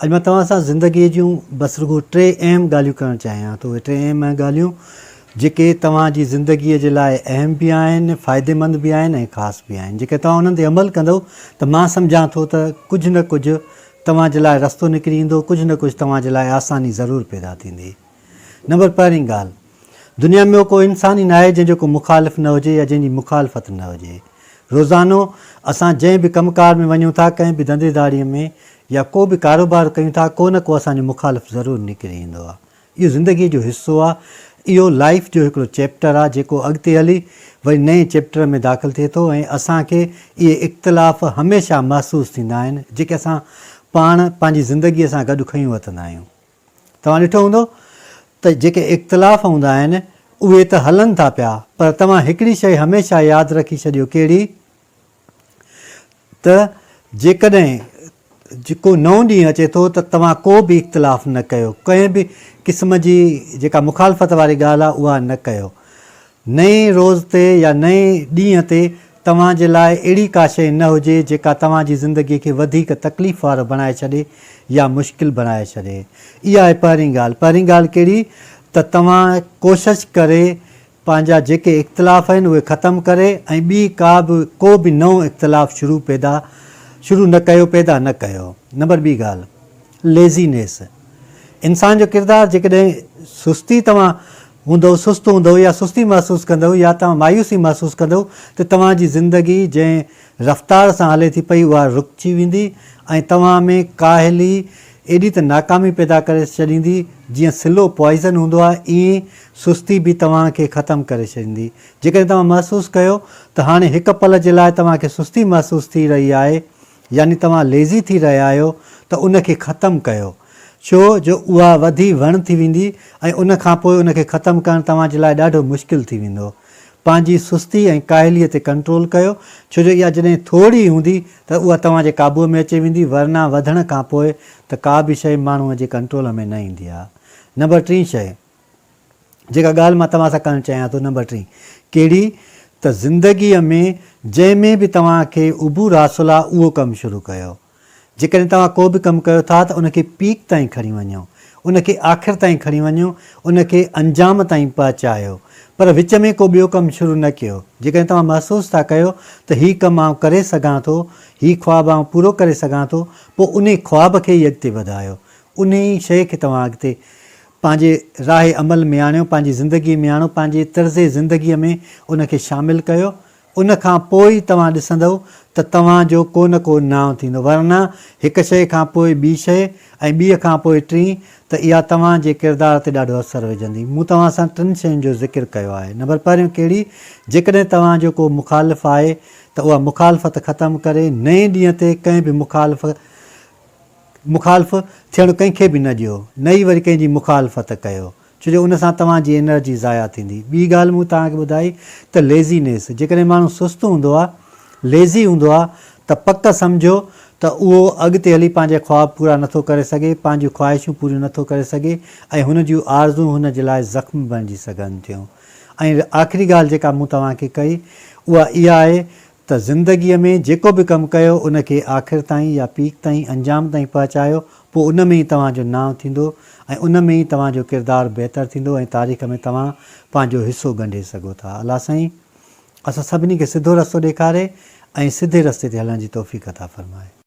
اڄ مان توهان سان زندگيء جون بس رڳو ٽي اهم ڳالهيون ڪرڻ چاهيان ٿو. اهي ٽي اهم ڳالهيون جيڪي توهان جي زندگيء جي لاء اهم به آهن، فائديمند به آهن ۽ خاص به آهن. جيڪڏهن توهان انهن تي عمل ڪندؤ ته مان سمجهان ٿو ته ڪجهه نه ڪجهه توهان جي لاء رستو نڪري ايندو، ڪجهه نه ڪجهه توهان جي لاء آساني ضرور پيدا ٿيندي. نمبر پهرين ڳالهه. دنيا ۾ اهو ڪو انسان ئي ناهي جنهن جو ڪو مخالف نه هجي يا جنهن جي مخالفت نه هجي. روزانو اسان جنهن به ڪم ڪار ۾ وڃون ٿا، ڪنهن به ڌنڌي ڌاڙيء ۾ يا ڪو به ڪاروبار ڪيون ٿا، ڪو نه ڪو اسان جو مخالف ضرور نڪري ايندو آهي. اهو زندگيء جو حصو آهي. اهو لائيف جو هڪڙو چيپٽر آهي جيڪو اڳتي هلي وري نئين چيپٽر ۾ داخل ٿئي ٿو ۽ اسان کي اهي اختلاف هميشه محسوس ٿيندا آهن جيڪي اسان پاڻ پنهنجي زندگيء سان گڏ کنيون وتندا آهيون. توهان ڏٺو هوندو ته جيڪي اختلاف هوندا آهن اهي ته هلن ٿا پيا پر توهان هڪڙي شيء هميشه ياد رکي ڇڏيو ڪهڙي ته جيڪڏهن ڪو نئون ڏينهن اچي ٿو ته توهان ڪو به اختلاف نه ڪيو ڪنهن به قسم جي جيڪا مخالفت واري ڳالهه آهي اها نه ڪيو نئين روز تي يا نئين ڏينهن تي توهان جي لاء اهڙي ڪا شيء نه هجي جيڪا توهان جي زندگي کي وڌيڪ تڪليف وارو بڻائي ڇڏي يا مشڪل بڻائي ڇڏي. اها آهي پهرين ڳالهه. پهرين ڳالهه ڪهڙي ته توهان ڪوشش ڪري پنهنجا جيڪي اختلاف آهن اهي ختم ڪري ۽ ٻي ڪا به ڪو به نئون اختلاف شروع پيدا شروع نه ڪيو پيدا نه ڪيو. نمبر ٻي ڳالهه Laziness، انسان جو ڪردار، جيڪڏهن سستي توهان هوندؤ، سست هوندؤ يا سستي محسوس ڪندؤ يا توهان مايوسي محسوس ڪندؤ ته توهان جي زندگي جنهن رفتار سان هلي ٿي پئي اها رڪجي ويندي ۽ توهان ۾ ڪاهلي ايڏي ته ناڪامي پيدا ڪري ڇڏيندي جيئن سلو پوائزن هوندو آهي ائين سستي به توهان کي ختم ڪري ڇڏيندي جيڪڏهن توهان محسوس ڪيو ته هاڻي هڪ پل جي لاء توهان کي سستي محسوس ٿي رهي آهي يعني توهان ليزي ٿي رهيا آهيو ته ان کي ختم ڪيو ڇو جو اها وڌي وڻ ٿي ويندي ۽ ان کان پوء ان کي ختم ڪرڻ توهان جي لاء ڏاڍو مشڪل ٿي ويندو. پنهنجي سستي ۽ ڪاهليء تي ڪنٽرول ڪيو ڇو جو اها جڏهن ٿوري هوندي ته اها توهان جي قابوء ۾ اچي ويندي ورنه وڌڻ کان پوء ته ڪا به شيء ماڻهوء جي ڪنٽرول ۾ نه ايندي آهي. نمبر ٽين شيء. جيڪا ڳالهه مان توهان سان ڪرڻ چاهيان ٿو نمبر ٽين ڪهڙي ته زندگي ۾ جنهن ۾ به توهان کي عبور حاصل آ اهو ڪم شروع ڪيو جيڪڏهن توهان ڪو به ڪم ڪيو ٿا ته ان کي پيڪ تائين کڻي وڃو ان کي آخر تائين کڻي وڃو ان کي انجام تائين پهچايو پر وچ ۾ ڪو ٻيو ڪم شروع نه ڪيو جيڪڏهن توهان محسوس ٿا ڪيو ته هي ڪم آئون ڪري سگهان ٿو هي خواب آئون پورو ڪري سگهان ٿو پوء انهي خواب کي ئي اڳتي وڌايو انهي شيء کي توهان اڳتي پنهنجي راهه عمل ۾ آڻيو، پنهنجي زندگيء ۾ آڻو، پنهنجي طرز زندگيء ۾ ان کي شامل ڪيو، ان کان پوء ئي توهان ڏسندؤ ته توهان جو ڪو نه ڪو نانء ٿيندو، ورنه هڪ شيء کان پوء ٻي شيء ۽ ٻيء کان پوء ٽين ته اها توهان جي ڪردار تي ڏاڍو اثر وجهندي. مون توهان سان ٽن شين جو ذڪر ڪيو آهي. نمبر پهريون ڪهڙي؟ جيڪڏهن توهان جو ڪو مخالف آهي ته اها مخالفت ختم ڪري نئين ڏينهن تي ڪنهن به مخالف مخالف ٿيڻ ڪنهن کي به نه ڏيو، نه ئي وري ڪنهن جي مخالفت ڪيو، ڇو جو ان سان توهان جي انرجي ضايع ٿيندي. ٻي ڳالهه مون توهان کي ٻڌائي ته ليزينيس، جيڪڏهن ماڻهو سست هوندو آهي، ليزي هوندو آهي ته پڪ سمجهو ته اهو اڳتي هلي پنهنجا خواب پورا نٿو ڪري سگهي، پنهنجون خواهشون پوريون نٿو ڪري سگهي ۽ هن جون آرزون هن جي لاء زخم بڻجي سگهن ٿيون. ۽ آخري ڳالهه جيڪا مون توهان کي ڪئي اها اها آهي ته زندگيء ۾ جيڪو به ڪم ڪيو ان کي آخر تائين يا پيڪ تائين انجام تائين پهچايو پوء ان ۾ ئي توهان جو نانء ٿيندو ۽ ان ۾ ئي توهان جو ڪردار بهتر ٿيندو ۽ تاريخ ۾ توهان پنهنجو حصو ڳنڍي سگهو ٿا الله سائين اسان سڀني کي سڌو رستو ڏيکاري ۽ سڌي رستي تي هلڻ جي توفيق عطا فرمائي.